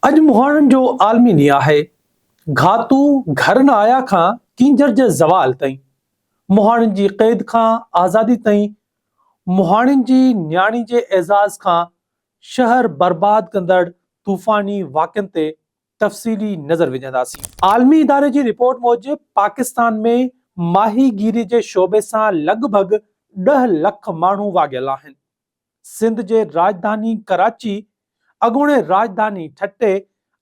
اڄ مهاڻن جو عالمي ڏينهن آهي. گهاتو گهر نه آيا کان ڪينجهر جي زوال تائين، مهاڻين جي قيد کان آزادي تائين، مهاڻين جي نياڻي جي اعزاز کان شهر برباد ڪندڙ طوفاني واقعن تي تفصيلي نظر وجهنداسين. عالمي اداري جي رپورٽ موجب پاڪستان ۾ ماهي گيري جي شعبي سان لڳ ڀڳ ڏهه لک ماڻهو واڳيل آهن. سنڌ جي راڄڌاني ڪراچي، اڳوڻي راڄڌاني ٺٽي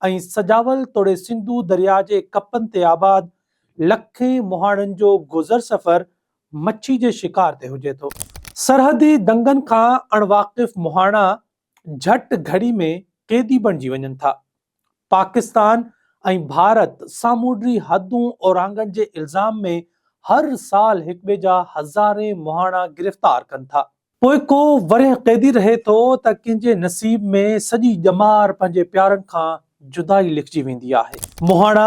۽ سجاول توڙي سنڌو درياء جي ڪپن تي آباد لکين مهاڻن جو گذر سفر مڇي جي شڪار تي هجي ٿو. سرحدي دنگن کان اڻواقف مهاڻا جهٽ گهڙي ۾ قيدي بڻجي وڃن ٿا. پاڪستان ۽ ڀارت سامونڊي حدون اورانگهڻ جي الزام ۾ هر سال هڪٻئي جا هزارين مهاڻا گرفتار ڪن ٿا. پوء ڪو ورهيه قيدي رهي ٿو ته ڪنهن جي نصيب ۾ سڄي ڄمار پنهنجي پيارن کان جدائي لکجي ويندي آهي. مهاڻا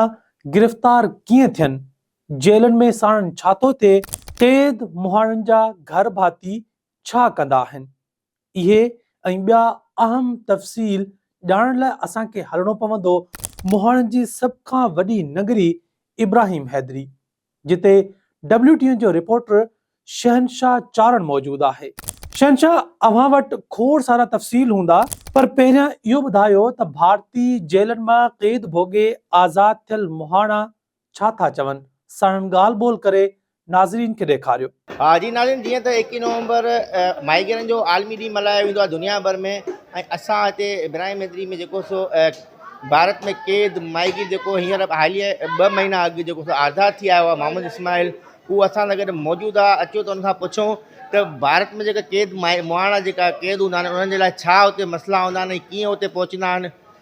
گرفتار ڪيئن ٿين؟ جيلن ۾ ساڻن ڇا ٿو ٿئي؟ قيد مهاڻن جا گهر ڀاتي ڇا ڪندا آهن؟ اهي ۽ ٻيا اهم تفصيل ڄاڻڻ لاء اسان کي هلڻو پوندو مهاڻن جي سڀ کان وڏي نگري ابراهيم حيدري، جتي ڊبليو ٽي اين جو رپورٽر شهنشاهه چارڻ موجود آهي. شهنشاهه اوهان وٽ کوڙ سارا تفصيل هوندا. پر پهريان اهو ٻڌايو ته ڀارتي جيلن مان قيد ڀوڳي آزاد ٿيل مهاڻا ڇا ٿا چون ساڻن ڳالهه ٻولهه ڪري ناظرين کي ڏيکاريو. جي ناظرين جيئن ته ايڪيهه نومبر مائيگرن جو عالمي ڏينهن ملهايو ويندو آهي دنيا ڀر ۾ ۽ اسان هتي برايم ميتري ۾ جيڪو سو ڀارت ۾ قيد مائيگير جيڪو هينئر حاليه ٻه مهينا اڳ جيڪو سو آزاد ٿي آيو آهي محمد اسماعيل هو اسان سان گڏ موجود آهي اچو ته ان کان پڇون ته ڀارت ۾ جيڪا قيد مائي مهاڻا جيڪا قيد هوندا آهن انهن جي لاء ڇا هتي مسئلا هوندا آهن ۽ ڪيئن هتي پهچندا آهن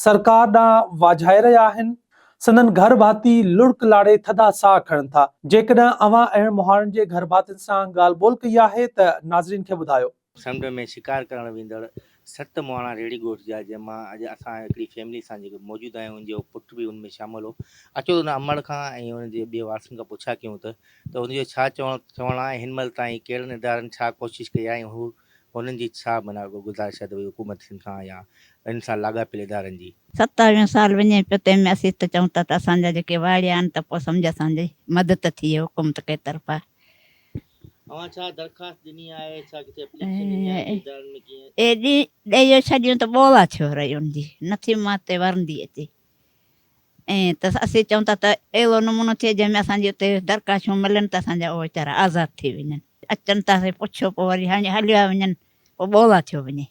سرڪار ڏانهن واجهائي رهيا آهن. سندن گهر ڀاتي لڙڪ لاڙي ٿڌا ساهه کڻن ٿا. جيڪڏهن اوهان اهڙن مهاڻن جي گهر ڀاتين سان ڳالهه ٻولهه ڪئي آهي ته ناظرين کي ٻڌايو. سمنڊ ۾ شڪار ڪرڻ ويندڙ ست مهاڻا ريڙهي ڳوٺ جا جنهن مان اڄ اسان هڪڙي فيملي سان جيڪي موجود آهيون ان جو پٽ به ان ۾ شامل هو اچو ان امڙ کان ۽ ان جي ٻئي وارثن کان پڇا ڪيون ته ته ان جو ڇا چوڻ چوڻ آهي ۽ هن مهل تائين ڪهڙن ادارن ڇا ڪوشش ڪئي آهي ۽ هو انهن جي ڇا معنيٰ اڳو گذارش آهي ته اهي حڪومت سنڌ کان يا ان سان لاڳاپيل ادارن جي. ستاويهون سال وڃي پيو تنهن ۾ اسين ته چئون ٿا ته اسان جا جيڪي واڙيا آهن ته پوء سمجهه اسان جي مدد ٿئي حڪومت ڪي طرفا. اوهان ڇا درخواست ڏني آهي ڇا ڪٿي اپليڪشن ڏني آهي ته ادارن ۾ ڪيئن. اهي ڏيئي ڏيئي ڏيئي ڇڏيون ته ٻولا ڇو رهيون جي نٿي ماتي ورندي اچي. ائين ته اسين چئون ٿا ته اهڙو نمونو ٿئي جنهن ۾ اسان جي اتي درڪاشون ملن ته اسان جا اهي ويچارا آزاد ٿي وڃن. اچن ته اسين پڇيو پوء وري هڻي هليا وڃن پوء ٻولا ٿيو وڃي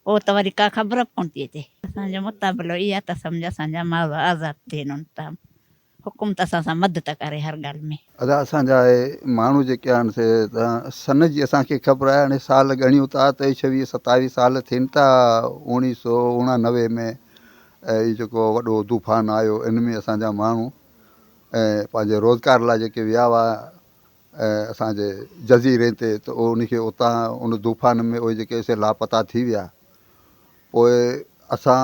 پوء ته وري ڪا خبر به ڪونه ٿي اچي. اسان جو مطابلو اهو آهي ته اسان جا ماڳ آزاد ٿين ان تام. حڪومت اسان سان مدد ڪري هر ڳالهه ۾. ادا اسان جا اهي ماڻهو جيڪي آهن سي ته سن جي اسان کي خبر آهي هاڻي سال ڳڻيون ٿا ته ڇويهه ستاويهه سال ٿين ٿا اوڻيهه سو اوڻانوي ۾ هي جيڪو وڏو طوفان آيو ان ۾ اسان جا ماڻهو پنهنجي روزگار لاء جيڪي ويا هئا اسان جي جزيري تي ته ان کي اتان ان طوفان ۾ اهي جيڪي سي لاپتا ٿي ويا پوء اسان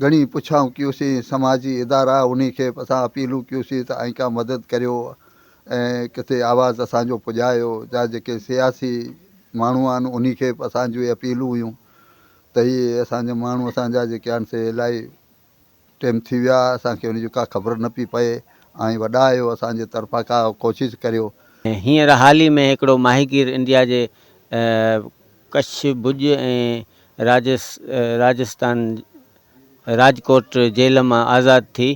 گهڻي پڇائون ڪيوسين سماجي ادارا انهي کي اسان اپيلون ڪيوسين ته ائين ڪا مدد ڪريو ۽ ڪٿي آواز اسان جو پڄايو جا جيڪي سياسي ماڻهو آهن انهي کي به اسان جون اهي اپيلون هيون ته هي اسان جا ماڻهو اسان جا جيڪي آهن سي الائي ٽيم ٿي ويا اسان کي انهي جو ڪا خبر نه پئي پئي اوهين وڏا آهيو اسان جي طرفان ڪا ڪوشش ڪريو. هينئر حال ئي ۾ هڪڙو ماهيگير انڊيا جي ڪڇ، ڀڄ ۽ راجستان راجڪوٽ جيل مان آزاد ٿي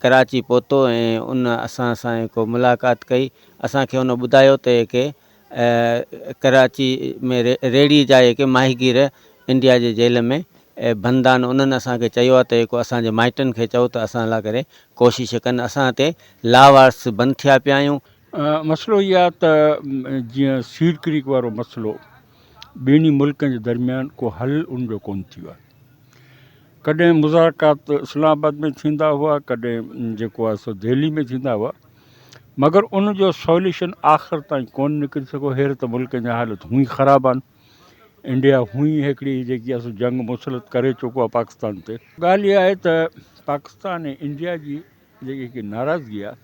ڪراچي پهتو ۽ ان اسان سان ڪو ملاقات ڪئي اسان کي ان ٻڌايو ته ڪي ڪراچي ۾ ريڙهي جا ڪي ماهيگير انڊيا جي جيل ۾ بند آهن انهن اسان کي چيو آهي ته ڪو اسان جي مائٽن کي چئو ته اسان لاء ڪري ڪوشش ڪن اسان تي لاوارث بند ٿيا پيا آهيون. مسئلو اهو آهي ته جيئن سيڊ ڪريڪ وارو مسئلو ٻنهي ملڪن جي درميان ڪو حل ان جو ڪونه ٿيو آهي ڪڏهن مذاڪرات اسلام آباد ۾ ٿيندا هئا ڪڏهن جيڪو آهي سو دهلي ۾ ٿيندا هئا مگر ان جو سوليوشن آخر تائين ڪونه نڪري سگهو هير ته ملڪن جا حالت هونئي خراب آهن انڊيا هونئي هڪڙي جيڪي آهي جنگ مسلط ڪري چڪو آهي پاڪستان تي ڳالهه اها آهي ته پاڪستان ۽ انڊيا جي جيڪي ناراضگي آهي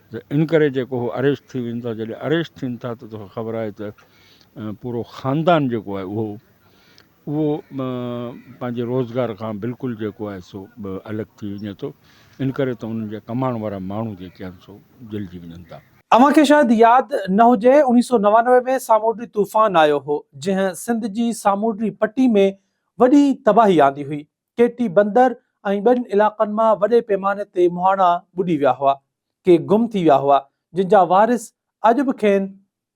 ته ان ڪري جيڪو هو اريسٽ ٿي وڃن ٿا جڏهن اريسٽ ٿين ٿا ته توکي خبر آهي ته پورو خاندان جيڪو آهي اهو اهو پنهنجي روزگار کان بلڪل جيڪو آهي سو الڳ ٿي وڃي ٿو ان ڪري ته انهن جا ڪمائڻ وارا ماڻهو جيڪي آهن سو جلجي وڃن ٿا. اوهان کي شايد ياد نه هجي اوڻيهه سو نوانوي ۾ سامونڊي طوفان آيو هو جنهن سنڌ جي سامونڊي پٽي ۾ وڏي تباهي آندي هئي ڪيٽي بندر ۽ ٻين علائقن مان وڏي پيماني تي مهاڻا ٻڏي ويا هئا، ڪي گم ٿي ويا هئا، جن جا وارث اڄ به کين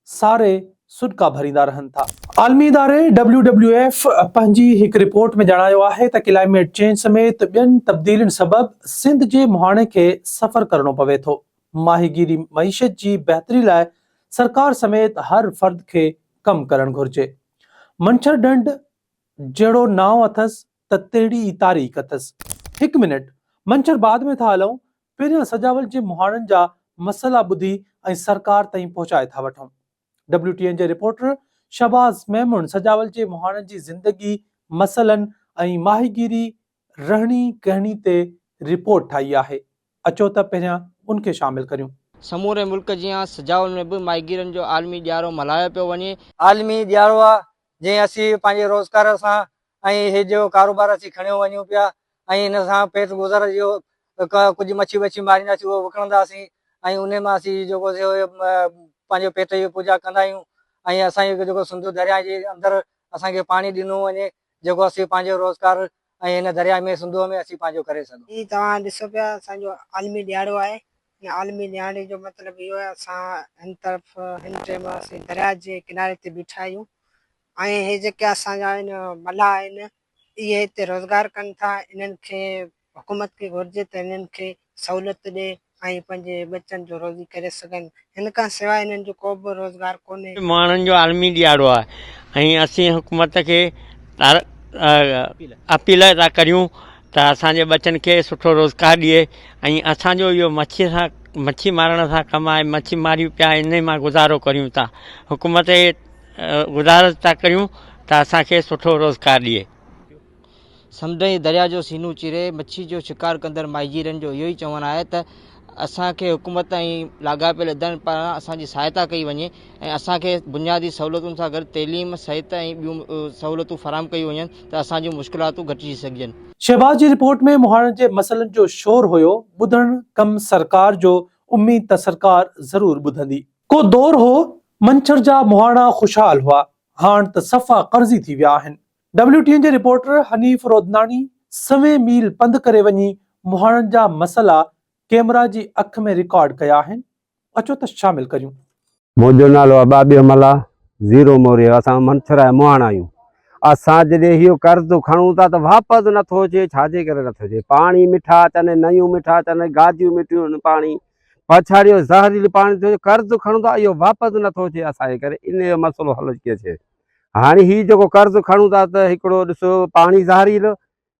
ساري سڏڪا ڀريندا رهن ٿا. عالمي اداري ڊبليو ڊبليو ايف پنهنجي هڪ رپورٽ ۾ ڄاڻايو آهي ته ڪلائميٽ چينج سميت ٻين تبديلين سبب سنڌ جي مهاڻي کي سفر ڪرڻو پوي ٿو، ماهيگيري معيشت جي بهتري لاء سرڪار سميت هر فرد کي ڪم ڪرڻ گهرجي، منڇر ڍنڍ جهڙو نانء اٿس ته تهڙي ئي تاريخ اٿس. هڪ منٽ، منڇر بعد ۾ ٿا هلئون، پهريان سجاول جي مهاڻن جا مسئلا ٻڌي ۽ سرڪار تائين پهچائي ٿا وٺون. ڊبليو ٽي اين جي رپورٽر شهباز ميمڻ سجاول جي مهاڻن جي زندگي، مسئلن ۽ ماهيگيري رهڻي ڪهڻي تي رپورٽ ٺاهي آهي اچو ته پهريان ان کي شامل ڪريون. سموري ملڪ جيان سجاول ۾ به ماهيگيرن جو عالمي ڏيارو ملهايو پيو وڃي. عالمي ڏيارو آ جنهن اسين پنهنجي روزگار سان ۽ هي جيڪو ڪاروبار اسين کڻيو وڃون پيا ۽ ان سان پيٽ گذر جو ڪجهه مڇي وڇي مارينداسين اهو وڪڻنداسين ۽ انهي مان اسين جيڪو سو پنهنجو پيٽ جي پوڄا ڪندا آهيون ۽ اسان جي جيڪو سنڌو درياهه جي اندر اسان کي پاڻي ڏنو وڃي جيڪو اسين پنهنجو روزگار ۽ هن درياء ۾ سنڌوء ۾ اسين پنهنجو ڪري سگهون. هي توهان ڏسو پيا اسان جو عالمي ڏيهاڙو آهي ان عالمي ڏيهاڙي جو مطلب اهو آهي اسان هن طرف هن ٽيم اسين درياء جي ڪناري تي بيٺا آهيون ۽ هي جيڪي اسان جا هن ملاح آهن اهي هتي روزگار ڪن ٿا انهن کي حڪومت کي گهرجي ته انهن کي سهولت ڏئي ۽ پنهنجي ٻچن جو روزي ڪري سگهن. هن کان سواء انهن جو ڪو به روزگار ڪونهي. ماڻهن جو عالمي ڏيهاڙو آهي ۽ اسين حڪومت کي اپيل ٿا ڪريون ته اسان جي ٻچن کي سٺو روزگار ڏئي ۽ اسان جو اهو مڇي سان مڇي مارڻ سان ڪم آهي مڇي ماريون پيا انهي مان گذارو ڪريون ٿا حڪومت کي گذارش ٿا ڪريون ته اسان کي سٺو روزگار ڏئي. سمنڊ ۽ دريا جو سينو چيري مڇي جو شڪار ڪندڙ ماهيگيرن جو اهو ئي چوڻ آهي ته اسان کي حڪومت ۽ لاڳاپيل ادارن پاران اسان جي سهائتا ڪئي وڃي ۽ اسان کي بنيادي سهولتن سان گڏ تعليم، صحت ۽ ٻيون سهولتون فراهم ڪيون وڃن ته اسان جون مشڪلاتون گهٽجي سگهجن. شهباز جي رپورٽ ۾ مهاڻن جي مسئلن جو شور هيو، ٻڌڻ ڪم سرڪار جو، اميد ته سرڪار ضرور ٻڌندي. ڪو دور هو، منڇر جا مهاڻا خوشحال هئا، هاڻ ته صفا قرضي ٿي ويا آهن، ڊبليو ٽي اين جي رپورٽر حنيف رودناڻي سوين ميل پنڌ ڪري وڃي مهاڻن جا مسئلا ڪيمرا جي اک ۾ رڪارڊ ڪيا آهن اچو ته شامل ڪريون. منهنجو نالو آ ٻاٻيهه ملاح زيرو موريو اسان منڇرائي مهاڻ آهيون اسان جڏهن هيو قرض کڻون ٿا ته واپس نه ٿو اچي ڇا جي ڪري نه ٿو اچي پاڻي مٺا اچن نيون مٺا اچن گاجيون مٺيون پاڻي پڇاڙيو زهريلو پاڻي ٿو اچي قرض کڻون ٿا اهو واپس نه ٿو اچي اسان جي ڪري ان جو مسئلو حل ڪيئن ٿئي هاڻي هي جيڪو قرض کڻون ٿا ته هڪڙو ڏسو پاڻي زهريلو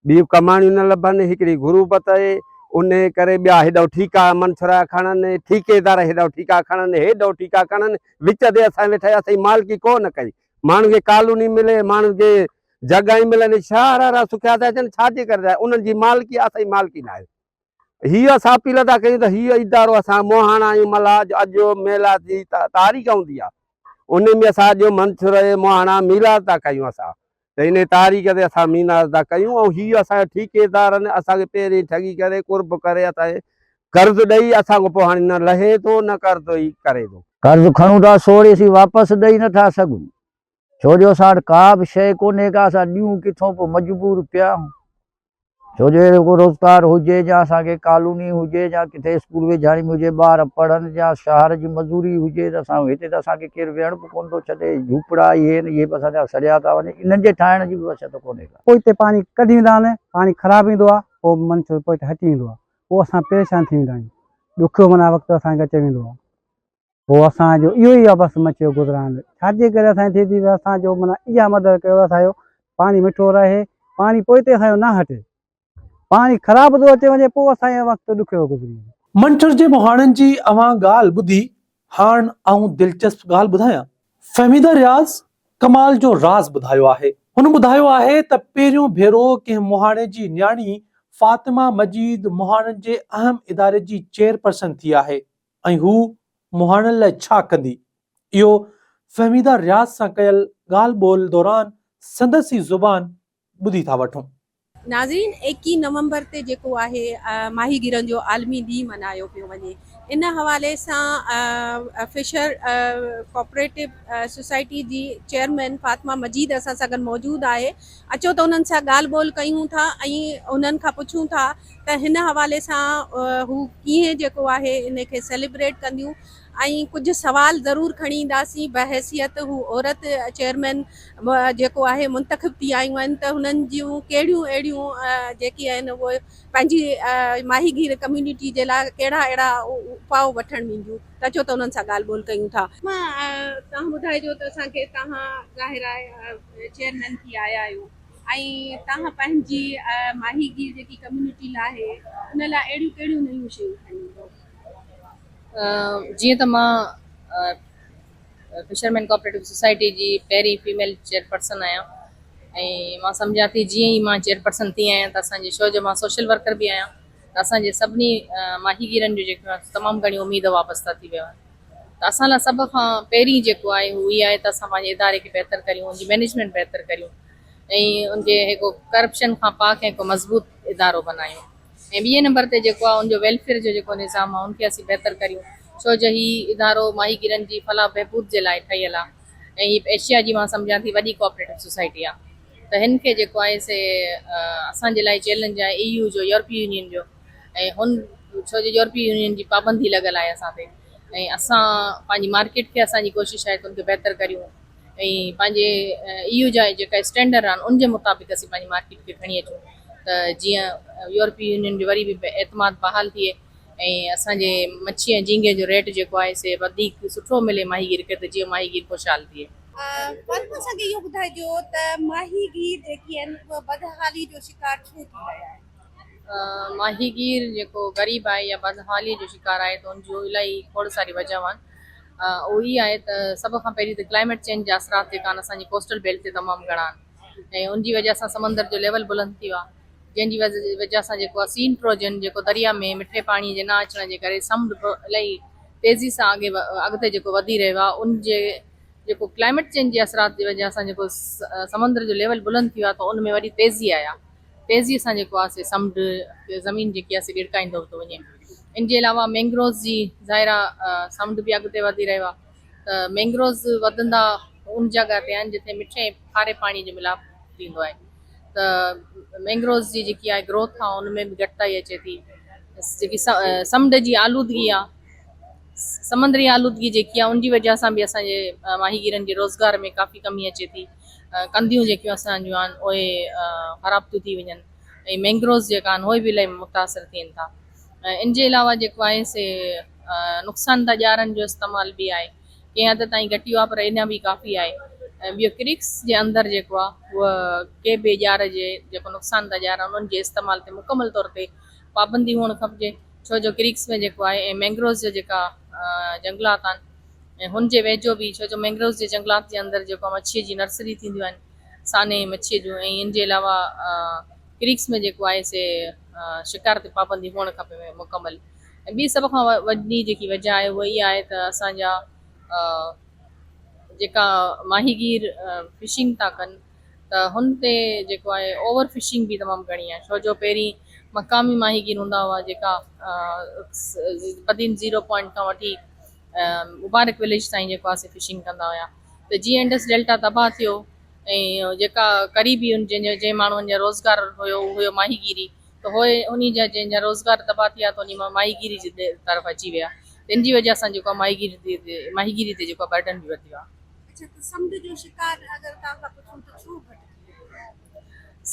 ٻيون ڪماڻيون نه لڀن هڪڙي غروبت اهي ان ڪري ٻيا هيڏو ٺيڪا منڇرا کڻن ٺيڪيدار هيڏو ٺيڪا کڻن هيڏو ٺيڪا کڻن وچ تي اسان ويٺا اسين مالڪي ڪو نه ڪئي ماڻهن کي ڪالوني ملي ماڻهن کي جڳهيون ملن شهر هارا سکيا ٿا اچن ڇا جي ڪري انهن جي مالڪي اسان جي مالڪي نه آهي هي اسان اپيل ادا ڪيون ته هي ادارو اسان موهاڻا ۽ ملاح جو اڄ ميلا جي تاريخ هوندي آهي ان ۾ اسان اڄ منڇر ۽ موهاڻا ميلا ادا ڪيون اسان ته ان تاريخ تي اسان مينا ادا ڪيون ۽ هي اسان ٺيڪيدارن اسان کي پهرين ٺڳي ڪري قرب ڪري اسان قرض ڏئي اسان کان پوء هاڻي نه لهي ٿو نه قرض ئي ڪري ٿو. قرض کڻون ٿا سو وڙي اسين واپس ڏئي نه ٿا سگهون ڇو جو اسان وٽ ڪا به شيء ڪونهي ڪا اسان ڏيون ڪٿون پوء مجبور پيا آهيون ڇو جو اهڙو ڪو روزگار هجي جا اسان کي ڪالوني هجي جا ڪٿي اسڪول ويجهاڻي ۾ هجي ٻار پڙهن جا شهر جي مزوري هجي ته اسان هتي ته اسان کي ڪير ويهڻ به ڪونه ٿو ڇڏي جهوپڙا اهي آهن اهي به اسان جا سڙيا ٿا وڃن انهن جي ٺاهڻ جي به وسعت ڪونهي ڪا. پوء هتي پاڻي ڪڍي ويندا آهن پاڻي خراب ايندو آهي پوء من ڇو پوء هتي هٽي ويندو آهي پوء اسان پريشان ٿي ويندا آهيون ڏکيو معنيٰ وقت اسان کي اچي ويندو آهي. هو اسان جو اهو ئي بس مچيو گذران ڇاجي ڪري اسان ٿي ٿي اسان جو منا اها مدد ڪيو اسان جو پاڻي مٺو رهي پاڻي پوئتي اسان جو نه هٽي پاڻي خراب ٿو اچي وڃي پوء اسان جو وقت ڏکيو گذري وڃي منٺر جي مهاڻن جي اوهان ڳالهه ٻڌي هاڻ آئون دلچسپ ڳالهه ٻڌايان فهميده رياض ڪمال جو راز ٻڌايو آهي هن ٻڌايو آهي ته پهريون ڀيرو ڪنهن مهاڻي جي نياڻي فاطمه مجيد مهاڻن جي اهم اداري جي چيئرپرسن ٿي آهي ۽ هو مهاڻن لاء ڇا ڪندي؟ اهو فهميده رياض سان ڪيل ڳالهه ٻولهه دوران سندس ئي زبان ٻڌي ٿا وٺون. ناظرين ايڪيهه نومبر تي جيڪو آهي ماهيگيرن جو عالمي ڏينهن ملهايو پيو وڃي ان حوالي سان فشر ڪوپريٽو سوسائٽي جي چيئرمين فاطمه مجيد اسان سان گڏ موجود آهي اچو ته انهن سان ڳالهه ٻولهه ڪيون ٿا ۽ انهن کان پڇون ٿا ته هن حوالي سان هو ڪيئن جيڪو آهي ان کي سيليبريٽ ڪنديون ۽ ڪجهه سوال ضرور کڻي اينداسين بحيثيت هو عورت چيئرمين جيڪو آهي منتخب ٿي آيون آهن ته هنن جون ڪهڙيون اهڙيون جيڪي آهن اهو پنهنجي ماهي گير ڪميونٽي جي لاء ڪهڙا اهڙا اپاء وٺڻ وينديون ته اچو ته انهن سان ڳالهه ٻولهه ڪيون ٿا. توهان ٻڌائجو ته اسان کي توهان ظاهر آهي چيئرمين ٿي آيا آهيو. ۽ توهان پنهنجي ماهي گير جيڪي ڪميونٽي لاء آهي ان لاء اهڙيون ڪهڙيون نيون شيون کڻي ايندو؟ جيئن ته مان فشرمين ڪوآپريٽو سوسائٽي جي پهرين فيميل چيئرپرسن آهيان ۽ مان سمجهان ٿي جيئن ئي مان چيئرپرسن ٿي آهيان ته اسان جي شو جو مان سوشل ورڪر به آهيان ته اسان جي سڀني ماهي گيرن جون جيڪو تمام گهڻيون اميد وابسته ٿي ويون آهن ته اسان لاء سڀ کان پهرين جيڪو آهي هو اهي آهي ته اسان پنهنجي اداري کي بهتر ڪريون ان جي مينيجمينٽ بهتر ڪريون ۽ ان جي هڪ ڪرپشن کان پاڪ ۽ هڪ مضبوط ادارو بنايون ۽ ٻئي نمبر تي جيڪو آهي ان جو ويلفيئر جو جيڪو نظام آهي ان کي اسين بهتر ڪريون ڇو جو هي ادارو ماهي گيرن جي فلاح بهبود جي لاء ٺهيل آهي ۽ هي ايشيا جي مان سمجهان ٿي وڏي ڪوآپريٽو سوسائٽي آهي ته هن کي جيڪو آهي سي اسان جي لاء چئلينج آهي اي يو جو يورپي يونين جو ۽ ان ڇو جو يورپي يونين جي پابندي لڳل آهي اسان تي ۽ اسان پنهنجي مارڪيٽ کي اسان جي ڪوشش آهي ته ان کي بهتر ڪريون ۽ پنهنجي اي يو جا جيڪا اسٽينڊر آهن ان جي مطابق اسين پنهنجي مارڪيٽ کي کڻي اچون ته جيئن يورپي يونين جو وري به اعتماد بحال ٿئي ۽ اسان جي مڇي ۽ جهينگي جو ريٽ جيڪو آهي سي وڌيڪ سٺو ملي ماهيگير کي ته جيئن ماهيگير خوشحال ٿئي. پنهون اسان کي اهو ٻڌائجو ته ماهيگير جيڪي آهن اهي بدحالي جو شڪار ڇو ٿي رهيا آهن. ماهيگير جيڪو غريب آهي يا بدحاليء جو شڪار آهي ته ان جون الاهي کوڙ ساريون وجهون آهن. اهو هي آهي ته سڀ کان پهرين ته ڪلائميٽ چينج جا اثرات جيڪا آهن اسان جي ڪوسٽل بيلٽ تي تمام گهڻا آهن ۽ ان جي وجهه سان سمندر جو ليول بلند ٿيو آهي جنهن جي وجهه سان جيڪو آهي سي انٽروجن جيڪو دريا ۾ مٺي پاڻي جي نه اچڻ جي ڪري سمنڊ به الاهي تيزي سان اڳي اڳتي جيڪو وڌي رهيو آهي ان جي جيڪو ڪلائميٽ چينج جي اثرات جي وجهه سان جيڪو سمندر جو ليول بلند ٿيو آهي ته ان ۾ وڏي تيزي آئي آهي تيزيء سان جيڪو آهي سي سمنڊ تي زمين جيڪي آهي سي ڏرڪائيندو ٿو وڃي. ان جي علاوه مينگروز جي ظاهرا سمنڊ به اڳتي وڌي رهيو آهي ته مينگروز وڌندا ان جڳهه تي آهن جتي مٺي ۽ کاري پاڻي جو ملاپ ٿيندو آهي ته مينگروز جي جيڪي آهي گروٿ آهي ان ۾ به گهٽتائي اچي ٿي جيڪي سمنڊ جي آلودگي آهي سمندري آلودگي جيڪي آهي ان جي وجهه سان به اسان جي ماهيگيرن جي روزگار ۾ ڪافي ڪمي اچي ٿي. ڪنڌيون جيڪيون اسان جون آهن اهي خراب ٿيون ٿي وڃن ۽ مينگروز جيڪا آهن اهي به الائي متاثر ٿين ٿا ان جي علاوه جيڪو آهي سي نقصان ده ڄارن جو استعمال به آهي ڪنهن حد تائين گهٽ اهو آهي پر اڃا به ڪافي آهي ۽ ٻيو ڪريڪس جي اندر جيڪو آهي هو ڪي به ڄار جي جيڪو نقصان ده ڄار آهن انهن جي استعمال تي مڪمل طور تي پابندي هئڻ کپجي ڇو جو ڪريڪس ۾ جيڪو آهي ۽ مينگروز جا جيڪا جنگلات آهن ۽ هن جي ويجهو به ڇو جو مينگروز جي جهنگلات جي اندر جيڪو آهي مڇيء جي نرسري ٿينديون آهن سانحي مڇيء جون ۽ ان جي علاوه ڪريڪس ۾ جيڪو آهي سي شڪار تي پابندي هئڻ کپي مڪمل ۽ ٻي سڀ کان وڏي جيڪي وجهه آهي اها اها آهي ته اسان جا جيڪا ماهيگير فشنگ ٿا ڪن ته هن تي جيڪو آهي اوور فشنگ به تمام گهڻي آهي ڇو جو پهرين مقامي ماهيگير هوندا هئا جيڪا قديم زيرو پوائنٽ کان وٺي مبارڪ وليج تائين جيڪو آسي فشنگ ڪندا هيا ته جيئن انڊس ڊيلٽا تباهه ٿيو ۽ جيڪا قريبي ان جن جن ماڻهن جا روزگار هيو اهو هيو ماهي گيري ته هو ان جا جن جا روزگار تباهه ٿي ويا ته ان ماهي گيري جي طرف اچي ويا ان جي وجه سان جيڪو ماهي گيري تي ماهي گيري تي جيڪو برڊن به وڌيو آهي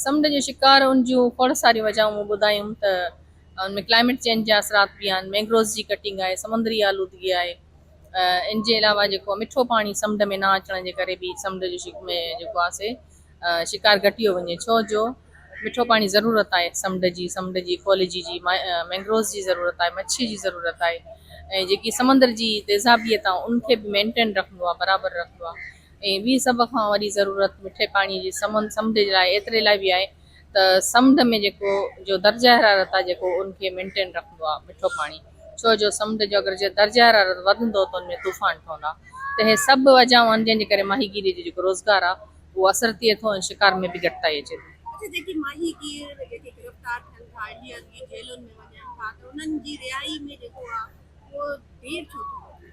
سمنڊ جو شڪار ان جون کوڙ ساريون وجهون مون ٻڌايون ته ان ۾ ڪلائميٽ چينج جا اثرات به آهن مينگروز جي ڪٽنگ آهي سمندري آلودگي آهي ان جي علاوه جيڪو مٺو پاڻي سمنڊ ۾ نه اچڻ جي ڪري به سمنڊ جو شڪ ۾ جيڪو آهي سي شڪار گهٽيو وڃي ڇو جو مٺو پاڻي ضرورت آهي سمنڊ جي سمنڊ جي اڪولجي جي مينگروز جي ضرورت آهي مڇي جي ضرورت آهي ۽ جيڪي سمندر جي تيزابيت آهي ان کي به مينٽين رکندو آهي برابر رکندو آهي ۽ ٻي سڀ کان وڏي ضرورت مٺي پاڻي جي سمن سمنڊ جي لاء ايتري لاء به آهي ته سمنڊ ۾ جيڪو جو درجه حرارت آهي جيڪو ان کي مينٽين رکندو آهي مٺو پاڻي ڇو جو سمنڊ جو اگر جي درجه حرارت وڌندو ته ان ۾ طوفان ٺهندا ته اهي سڀ وجهون آهن جن جي ڪري ماهيگيري جو جيڪو روزگار آهي اهو اثر ٿئي ٿو ۽ شڪار ۾ به گهٽتائي اچي ٿي. اڇا جيڪي ماهيگير جيڪي گرفتار ٿين ٿا انڊيا جي جيلن ۾ وڃن ٿا ته انهن جي رهائي ۾ جيڪو آهي اهو دير ڇو ٿي ٿئي.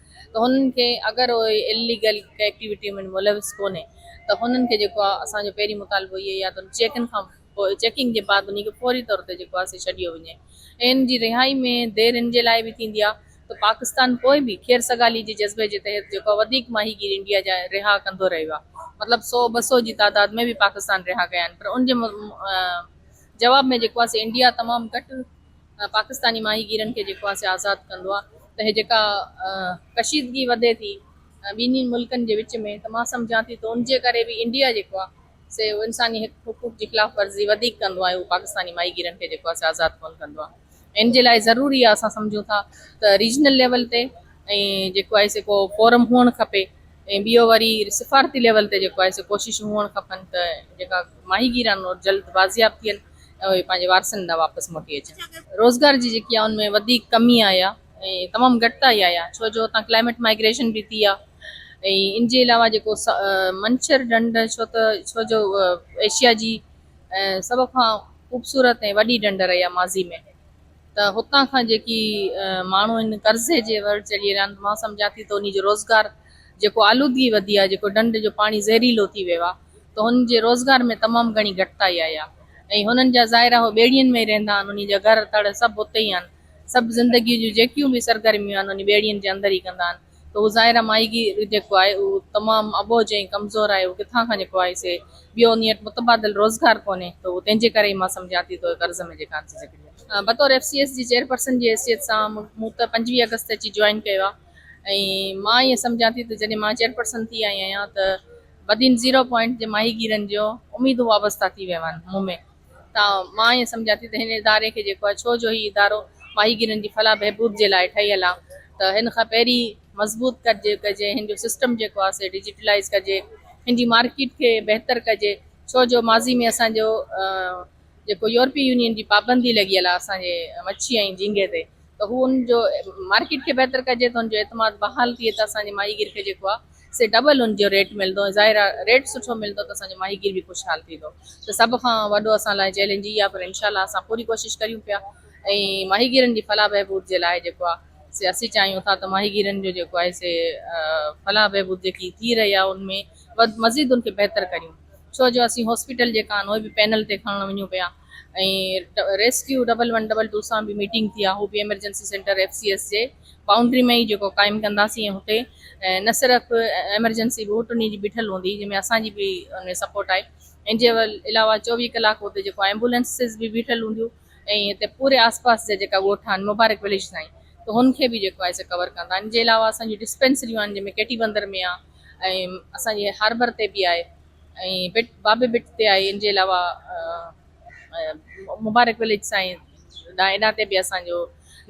ته هنن کي اگر اهي اليگل ڪنهن ايڪٽيوٽي ۾ ملوث ڪونهي ته هنن کي جيڪو آهي اسان جو پهرين مطالبو اهي يا ته چيڪن کان پوء چيڪنگ جي بعد انهي کي فوري طور تي جيڪو آهي سي ڇڏيو وڃي ۽ ان جي رهائي ۾ دير ان جي لاء به ٿيندي آهي ته پاڪستان پوء به خير سگالي جي جذبي جي تحت جيڪو آهي وڌيڪ ماهيگير انڊيا جا رها ڪندو رهيو آهي مطلب سو ٻه سو جي تعداد ۾ به پاڪستان رها ڪيا آهن پر ان جي جواب ۾ جيڪو آهي سي انڊيا تمام گهٽ پاڪستاني ماهيگيرن کي جيڪو آسي آزاد ڪندو آ ته هي جيڪا ڪشيدگي وڌي ٿي ٻنهي ملڪن جي وچ ۾ ته مان سمجهان ٿي ته ان جي ڪري به انڊيا جيڪو آ سي انساني حقوق جي خلاف ورزي وڌيڪ ڪندو آ ۽ هو پاڪستاني ماهيگيرن کي جيڪو آسي آزاد ڪونه ڪندو آ ان جي لاء ضروري آ اسان سمجهون ٿا ته ريجنل ليول تي ۽ جيڪو آهي سي ڪو فورم هئڻ کپي ۽ ٻيو وري سفارتي ليول تي جيڪو آهي سي ڪوششون هئڻ کپن ته جيڪا ماهيگيران جلد بازياب ٿين ۽ اهي پنهنجي وارثن ڏانهن واپس موٽي اچن. روزگار جي جيڪي آ ان ۾ وڌيڪ ڪمي آئي آ ۽ تمام گهٽ آئي آئي آ ڇو جو هتان ڪلائميٽ مائگريشن به ٿي آ ۽ ان جي علاوه جيڪو منڇر ڍنڍ ڇو ته ڇو جو ايشيا جي سڀ کان خوبصورت ۽ وڏي ڍنڍ رهي آ ماضي ۾ ته هتان کان جيڪي ماڻهو ان قرضي جي ور چڙهي رهيا آهن مان سمجهان ٿي ته انهي جو روزگار جيڪو آلودگي وڌي آهي جيڪو ڍنڍ جو پاڻي زهريلو ٿي ويو آهي ته هنن جي روزگار ۾ تمام گهڻي گهٽتائي آئي آهي ۽ هنن جا ظاهر آهي هو ٻيڙين ۾ ئي رهندا آهن انهي جا گهر تڙ سڀ اتي ئي آهن سڀ زندگي جون جيڪيون به سرگرميون آهن انهي ٻيڙين جي اندر ئي ڪندا آهن ته هو ظاهر آهي ماهيگير جيڪو آهي اهو تمام اٻوجهه ۽ ڪمزور آهي هو ڪٿان کان جيڪو آهي سي ٻيو انهي وٽ متبادل روزگار ڪونهي ته اهو تنهن جي ڪري ئي مان سمجهان ٿي ته اهي قرض ۾ جيڪا آهن سي جيڪڏهن بطور ايف سي ايس جي چيئرپرسن جي حيثيت سان مون ته پنجويهه آگسٽ اچي جوائن ڪيو آهي. ۽ مان ائين سمجهان ٿي ته جڏهن مان چيئرپرسن ٿي آئي آهيان ته بدين زيرو پوائنٽ جي ماهيگيرن جو اميدون وابسته ٿي ويون آهن مون ۾ ته مان ائين سمجهان ٿي ته هن اداري کي جيڪو آهي ڇو جو هي ادارو ماهيگيرن جي فلاح بهبود جي لاء ٺهيل آهي ته هن کان پهرين مضبوط ڪجي ڪجي هن جو سسٽم جيڪو آهي سي ڊجيٽلائز ڪجي هن جي مارڪيٽ کي بهتر ڪجي ڇو جو ماضي ۾ اسان جو جيڪو يورپي يونين جي پابندي لڳيل آهي اسان جي مڇي ۽ جهينگي تي ته هو ان جو مارڪيٽ کي بهتر ڪجي ته ان جو اعتماد بحال ٿئي ته اسان جي ماهيگير کي جيڪو آهي سي ڊبل ان جو ريٽ ملندو ۽ ظاهر آهي ريٽ سٺو ملندو ته اسان جو ماهيگير به خوشحال ٿيندو ته سڀ کان وڏو اسان لاء چئلينج اهي آهي پر انشاء الله اسان پوري ڪوشش ڪريون پيا ۽ ماهيگيرن جي فلاح بهبود جي لاء جيڪو آهي سي اسين چاهيون ٿا ته ماهيگيرن جو جيڪو آهي سي فلاح بهبود جيڪي ٿي رهي آهي ان ۾ مزيد ان کي بهتر ڪريون ڇو جو اسين هاسپيٽل جيڪا آهن اهي به پينل تي کڻڻ وڃون پيا ۽ rescue double one double two سان به ميٽنگ ٿي آهي اهو به emergency centre F C S جي بائونڊري ۾ ئي جيڪو قائم ڪنداسين ۽ هتي نه صرف ايمرجنسي به ٽنهي جي بيٺل هوندي جنهن ۾ اسان جي به ان ۾ سپورٽ آهي ان جي علاوه چوويهه ڪلاڪ هتي جيڪو ايمبولينسز به بيٺل هونديون ۽ هتي پوري آس پاس جا جيڪا ڳوٺ آهن مبارڪ ويليج تائين ته هن کي به جيڪو آهي سو ڪور ڪندا ان جي علاوه اسان جون ڊسپينسريون آهن جنهن ۾ ڪيٽي بندر ۾ آهي ۽ اسان جي هاربر تي به آهي ۽ بٽ بابي بٽ تي آهي ان جي علاوه مبارڪ وليج سائين ڏانهن ايڏا تي به اسان جو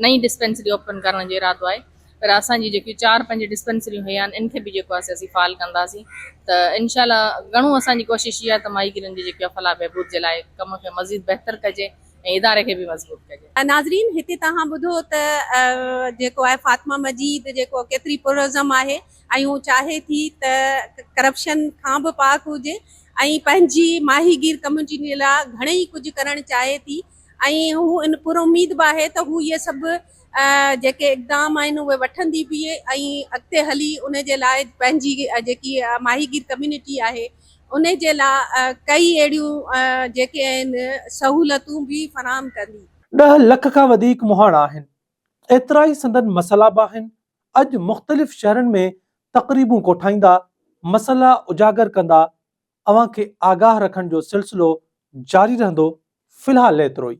نئين ڊسپينسري اوپن ڪرڻ جو ارادو آهي پر اسان جي جيڪي چار پنج ڊسپينسريون هيا آهن ان کي به جيڪو آهي اسين فعال ڪنداسين ته انشاء الله گهڻو اسان جي ڪوشش اها ته ماهي گيرن جي جيڪي فلاح بهبود جي لاء ڪم کي مزيد بهتر ڪجي ۽ اداري کي به مضبوط ڪجي. ناظرين هتي توهان ٻڌو ته جيڪو آهي فاطمه مجيد جيڪو ڪيتري پرعزم آهي ۽ هو چاهي ٿي ته ڪرپشن کان به پاڪ هجي ۽ پنهنجي ماهي گير ڪميونٽي لاء گهڻئي ڪجهه ڪرڻ چاهي ٿي ۽ هو ان پر اميد به آهي ته هو اهي سڀ جيڪي اقدام آهن اهي وٺندي به ۽ اڳتي هلي ان جي لاء پنهنجي جيڪي ماهي گير ڪميونٽي آهي ان جي لاء ڪئي اهڙيون جيڪي آهن سهولتون به فراهم ڪندي. ڏهه لک کان وڌيڪ مهاڻا آهن ايترائي سندن مسئلا به آهن. اڄ مختلف شهرن ۾ تقريبون ڪوٺائيندا، مسئلا اجاگر ڪندا، اوهان کي آگاهه رکڻ جو سلسلو جاري رهندو، في الحال ايترو ئي.